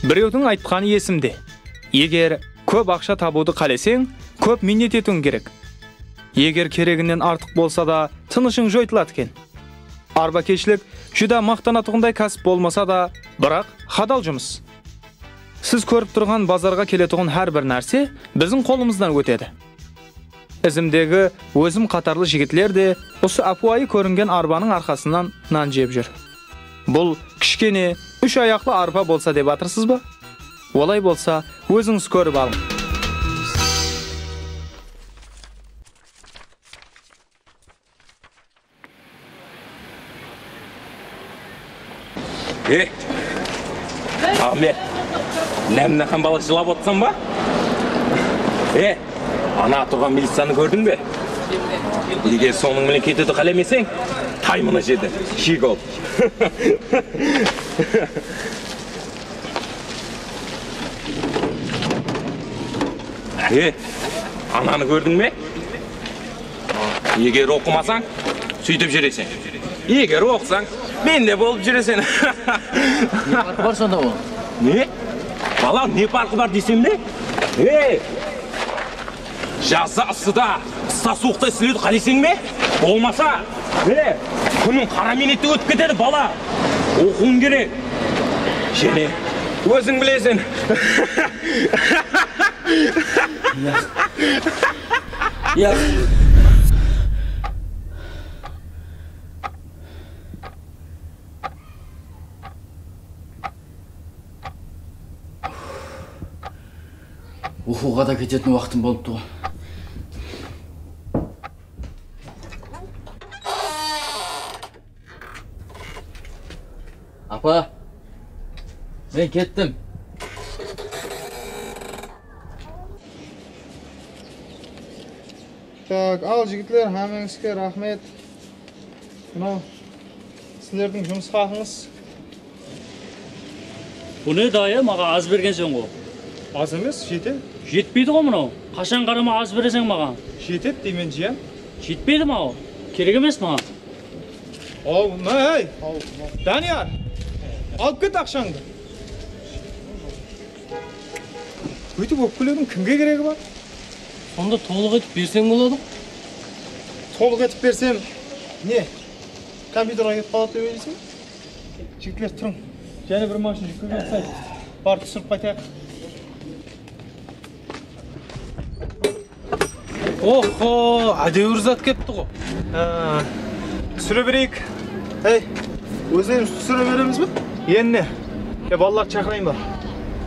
Birewdiń aytqanı esimde, Eger kóp aqsha tabıwdı qáleseń, kóp miynet etiwiń kerek. Eger kereginen artıq bolsa da, tınıshıń joytıladı eken. Arbakeshilik júdá maqtanatuǵınday kásip bolmasa da, biraq hadal jumıs. Siz kórip turǵan bazarǵa keletuǵın hár bir nárse biziń qolımızdan ótedi. Izimdegi ózim qatarlı jigitler de usı ápiwayı kóringen arbanıń arqasınan nan jep júr. Bul kishkene úsh ayaqlı arpa bolsa dep atırsız ba? Olay bolsa, ózińiz kórip alıń. Ey, Ahmet, ne mınaqa bala jılap otırsan ba? Ey, ana turǵan miliciyanı kórdiń be? Eger sonıń menen ketiwdi qálemeseń, tay mına jerden, shegol! Ey, ananı kórdiń be? Eger oqımasań, sóytip júreseń. Eger oqısań, mende bolıp júreseń. Ne parqı bar sonda ol? Ne? Bala, ne parqı bar deyseń be? Ey! Jazda ıssıda, qısta suwıqta islewdi qáleyseń be? Bolmasa, mine, kúniń qara miynette ótip ketedi, bala! Oqıwıń kerek. Jáne, óziń bileseń. Uqıwǵa da ketetin waqtım bolıp tuǵın. Apa, men kettim. Tak, al jigitler, hámeńizge raxmet. Mınau sizlerdiń jumıs haqıńız. Bul ne dayı maǵan az bergensen ǵo. Az emes jete. Jetpeydi ǵo mınau. Qashan qarama az bereseń maǵan. Jetedi deymen jiyan. Jetpeydi maǵan kerek emes maǵan. Au mına áy Dániyar alıp ket aqshańdı. Buytip ópkeleudiń kimge keregi bar. Sonda tolıq etip berseń boladı ǵo. Tolıq etip bersem ne kompyuterǵa ketip qaladı dep oyleysin be. Jigitler turıń. Jáne bir mashın júkkege uqsaydı. Barıp túsirip qaytayıq. Oho, ádewir zat keptiǵo. Túsire bereyik. Ey, ózlerimiz túsire beremiz be? Enne, e balalardı shaqırayın ba?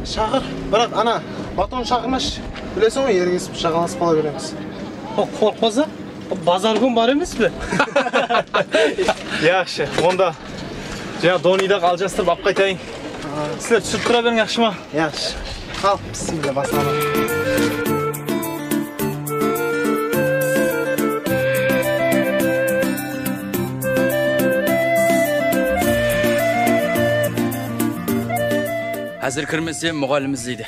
Shaqır, biraq ana Batonı shaqırmashı. Bilesiń ǵo, ergesip, jaǵalasıp qala beremiz. Qorıqpasa? Bazar kún bar emes pe? Yaqshı, onda jańa donıy daǵı aljastırıp alıp qaytayın. Sizler túsirip tura beriń, yaqshı ma? Yaqshı. Al, bismilla baslanıń. Házir kirmesem, muǵallim izleydi.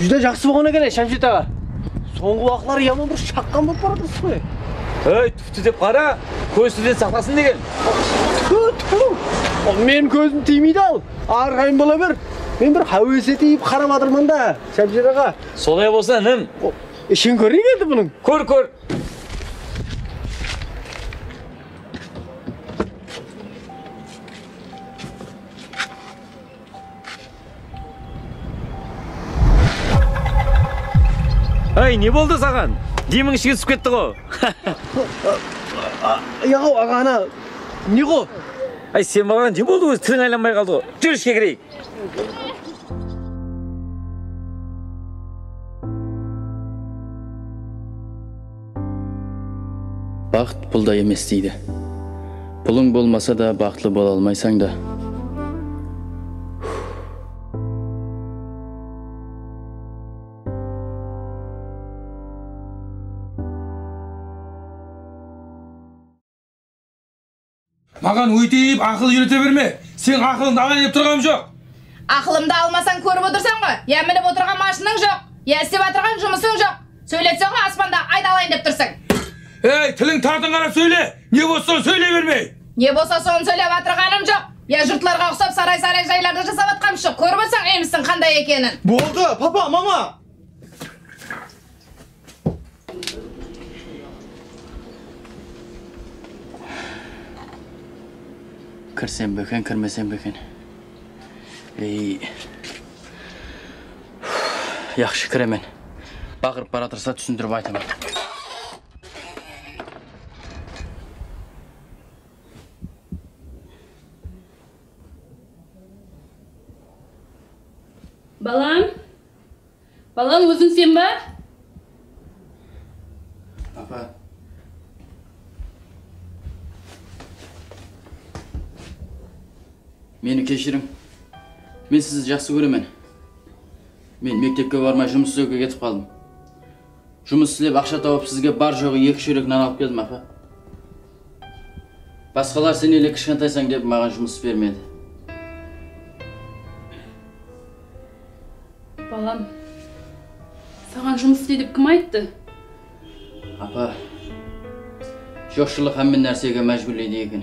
Júdá jaqsı bolǵan eken-áy Shamshet aǵa. Sońǵı waqıtları yaman bir shaqqan bolıp baratırsiz ǵoy. Ey, túpti dep qara, kóz tilden saqlasın degen. Túpti, túpti. Ol meniń kózim tiymeydi-aw. Arǵayın bola ber. Men bir háwes etip qarap atırman da, Shamshet aǵa. Solay bolsa, inim. Ishin kóreyin endi bunıń. Kór, kór. Áy, ne boldı saǵan? Demiń ishige túsip ketti ǵo? Yaǵo, aǵa, ana ne ǵo? Áy, sen balaǵa ne boldı ózi? Tiliń aylanbay qaldı ǵo. Júr ishke kireyik. Baxt pulda emes deydi. Pulıń bolmasa da baxıtlı bola almaysań da. Huh. Maǵan óyteyip aqıl úyrete berme, seniń aqılıńdı alayn dep turǵanım joq. Aqılımdı almasań kórip otırsań ǵo, ya minip otırǵan mashınıń joq, ya istep atırǵan jumısıń joq, sóyletseńǵo aspanda ayt alayın dep tursıń. Ey, tiliń tartın qarap sóyle, ne bolsa sonı sóyley bermey. Ne bolsa sonı sóylep atırǵanım joq, ya jurtlarǵa uqsap saray-saray jaylardı jasap atqanım joq, kórip otsań úyimizdiń qanday ekenin. Boldı, papa, mama! Kirsem be eken, kirmesem be eken. Ey, yaqshı kiremen. Baqırıp baratırsa túsindirip aytaman. Balam, Balan óziń sen ba? Apa. Meni keshiriń. Men sizdi jaqsı kóremen. Men mektepke barmay jumıs izlewge ketip qaldım. Jumıs islep aqsha tawıp sizge bar joǵı eki shórek nan alıp keldim apa. Basqalar sen ele kishkantaysań dep maǵan jumıs bermedi. Balam, saǵan jumıs isle dep kim ayttı? Apa, joqshılıq hámme nársege májbúrleydi eken.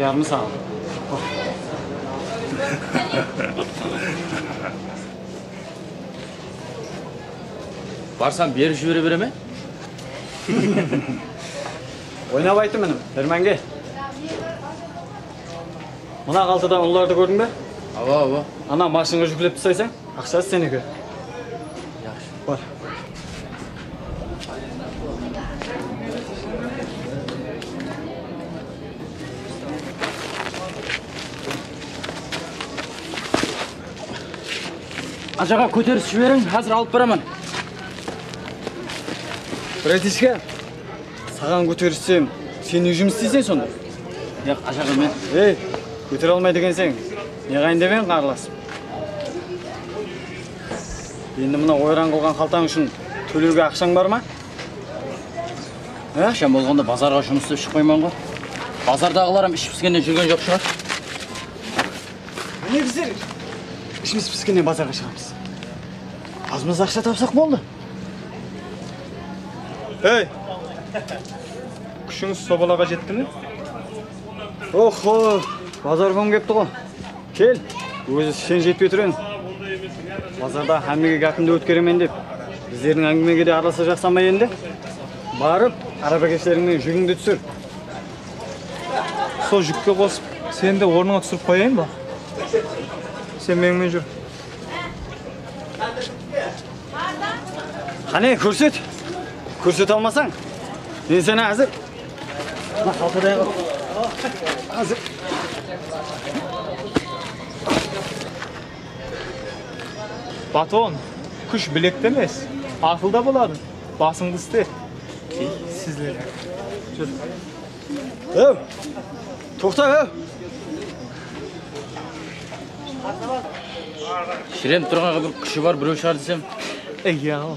Yarımı saǵan Barsam berip jibere bere me? Oynap aytım inim, bermenge. Mına qaltada unlardı kórdiń be? Awa, awa. Ana mashinǵa júklepti saysań, aqshası seniki. Bar. Ajaǵa kóteris jiberiń, xázir alıp baraman. Bratichka, saǵan kóterissem, sen ne jumıs isteysen sonda? Yoq, ajaǵa men. Ey, kótere almaydı ekenseń. Neǵayın dep eń qarlasıp? Sss endi mına oyran qılǵan xaltań ushın tólewge aqshań bar ma? Aqsham bolǵanda bazarǵa jumıs istep shıqpayman ǵo. Bazardaǵılaram ishi piskenden júrgen joq shıǵar. Mine bizler ishimiz piskenden bazarǵa shıǵamız. Azmaz aqsha tapsaq boldı. Ey! Kúshińiz sobalaǵa jetti me? Oxxo, bazar kúni kepti ǵo. Kel, ózi sen jetpey tur eń. Bazarda hámmege gápimdi ótkeremen dep, bizlerdiń áńgimege de aralasa jaqsan ba endi? Barıp, arabakeshleriń menen júgińdi túsir. Sol júkke qosıp, seni de ornıńa túsirip qoyayın ba? Sen menińmen júr. Qáne, kórset! Kórsete almasań, men seni házir. Baton, kúsh bilekte emes, aqılda boladı, basıńdı iste. Hew, toqta hew! Shirenip turǵanǵa bir kúshi bar bireu shıǵar desem. Iyyaǵo.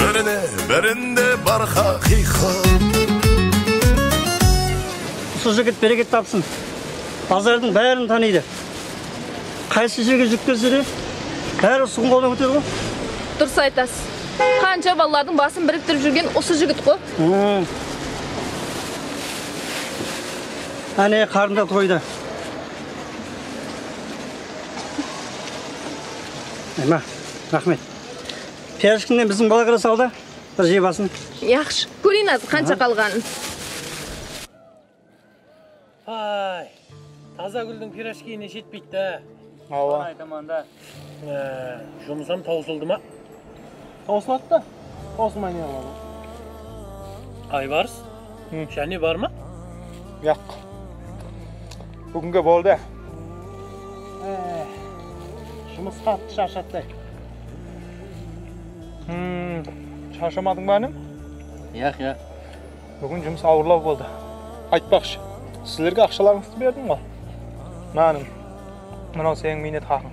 Birine birinde bar xaqıyqat. Usı jigit bereket tapsın bazardıń bárin tanıydı qaysı jerge júkberse de bári usı qumbadan ótedi ǵo. Durıs aytasız. Qansha balalardıń basın biriktirip júrgen usı jigit ǵo. Áne qarında toyda. Ayma. Raxmet. Piyazshkinen biziń bala kire saldı. Bir jey basın. Yaqshı. Kóreyin azı qansha qalǵanın. Pay. Taza gúldiń pirojkiyine jetpeydi dá. Awa. Sonı aytaman dá. Jumısam tawsıldı ma? Tawsıladı da. Osmay ne qıladı? Aybarıs jáne bar ma? Yoq. Búginge boldı. Jumıs qattı sharshattay. Sharshamadıń ba inim? Yoq, yoq. Búgin jumıs awırlaw boldı. Aytpaqshı, sizlerge aqshalarıńızdı berdim ǵoy. Mına inim, mınaw seniń miynet haqıń.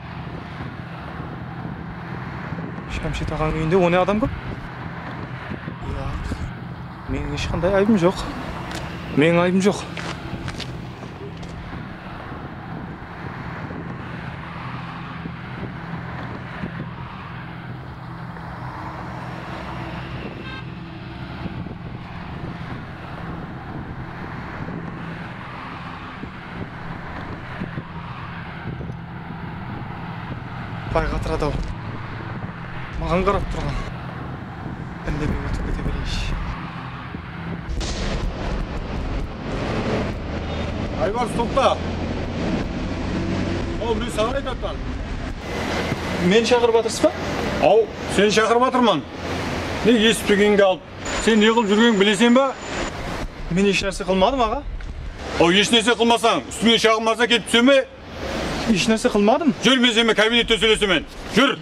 Shamshid aǵanıń úyinde one adam kóp? Yoq. Meniń hesh qanday aybım joq. Meniń aybım joq. Bay qatıradı-aw. Maǵan qarap turǵan. Indemey ótip kete bereyinshi. Aybars, toqta! Aw, men saǵan aytatınan. Meni shaqırıp atırıs pa? Aw, seni shaqırıp atırman. Nege esitpegenge alıp Sen ne qılıp júrgeniń bilesen ba? Men esh nárse qılmadım aǵa. Aw esh nárse qılmasań ústińe shaǵım barsa kelip túse me? Esh nárse qılmadım. Júr men sen menen kabinette sóylesemen. Júr.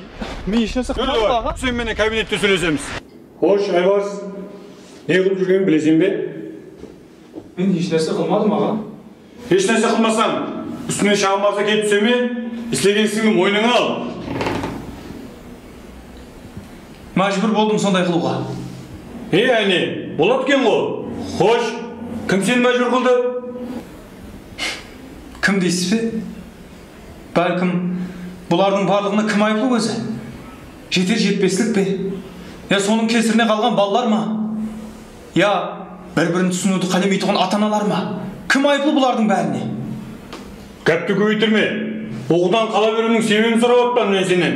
Men esh nárse qılmadım aǵa. Júr sen menen kabinette sóylesemiz. Xosh Aybars ne qılıp júrgeniń bilesen be? Men hesh nárse qılmadım aǵa. Hesh nárse qılmasań, ústińnen shaǵım arza kelip túse me? Islegen isińdi moynıńa al. Májbúr boldım sonday qılıwǵa. He, áne, boladı eken-ǵo. Xosh, kim seni májbúr qıldı? Kim deysiz be? Bálkim, bulardıń barlıǵına kim ayıplı ózi? Jeter-jetpeslik pe? Ya sonıń kesirine qalǵan balalar ma? Ya bir-birin túsiniwdi qálemeytuǵın ata-analar ma? Kim ayıplı bulardıń bárine? Gápti kóbeytirme. Uǵıdan qala beriwdiń sebebin sorap atpan men senen.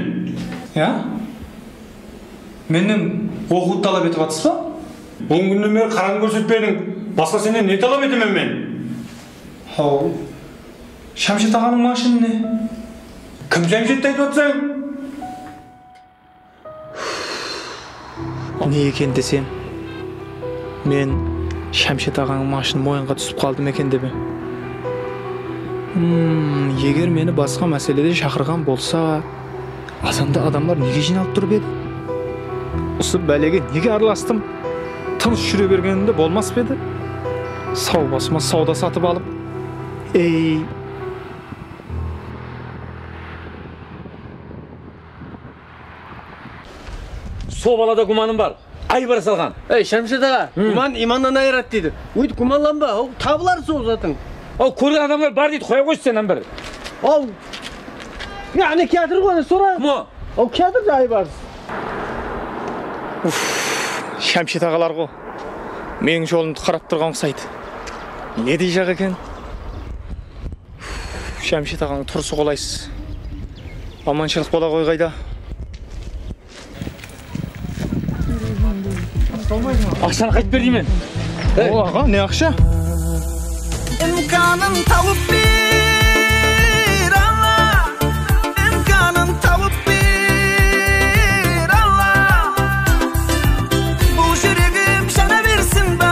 Ya? Mennen oqıwdı talap etip atsız ba? On kúnnen beri qarań kórsetpediń, basqa senen ne talap etemen men? Haw, Shamshet aǵanıń mashinine. Kim Shamshetti aytıp atsań? Ne eken desem, men Shamshet aǵańıń mashın moyınǵa túsip qaldım eken dep em. Umm, eger meni basqa máselede shaqırǵan bolsa, azanda adamlar nege jıynalıp turıp edi? Usı bálege nege aralastım? Tınısh júre bergenimde bolmas pa edi? Saw basıma sawda satıp alıp, ey! Sol balada gúmanım bar, aybara salǵan. Ey, Shamshid aǵa, gúman imannan ayıradı deydi. Óytip gúmanlanba, haw, tabılar sol zatıń. Haw, kórgen adamlar bar deydi, qoya ǵoysın sen hám bir. Haw, ya áne kiyatır ǵo, áne sora. Kim o? Haw, kiyatır da Aybarıs. Uff, Shamshid aǵalar ǵo, meniń jolımdı qarap turǵan uqsaydı. Ne dey jaq eken? Jamshet aǵańıń turısı qolaysız amanshılıq bola ǵoy qayda Aqshanı qaytıp ber deymen Ol aǵa ne aqsha Imkanın tawıp ber Alla Imkanın tawıp ber Alla Bul júregim jana bersin ba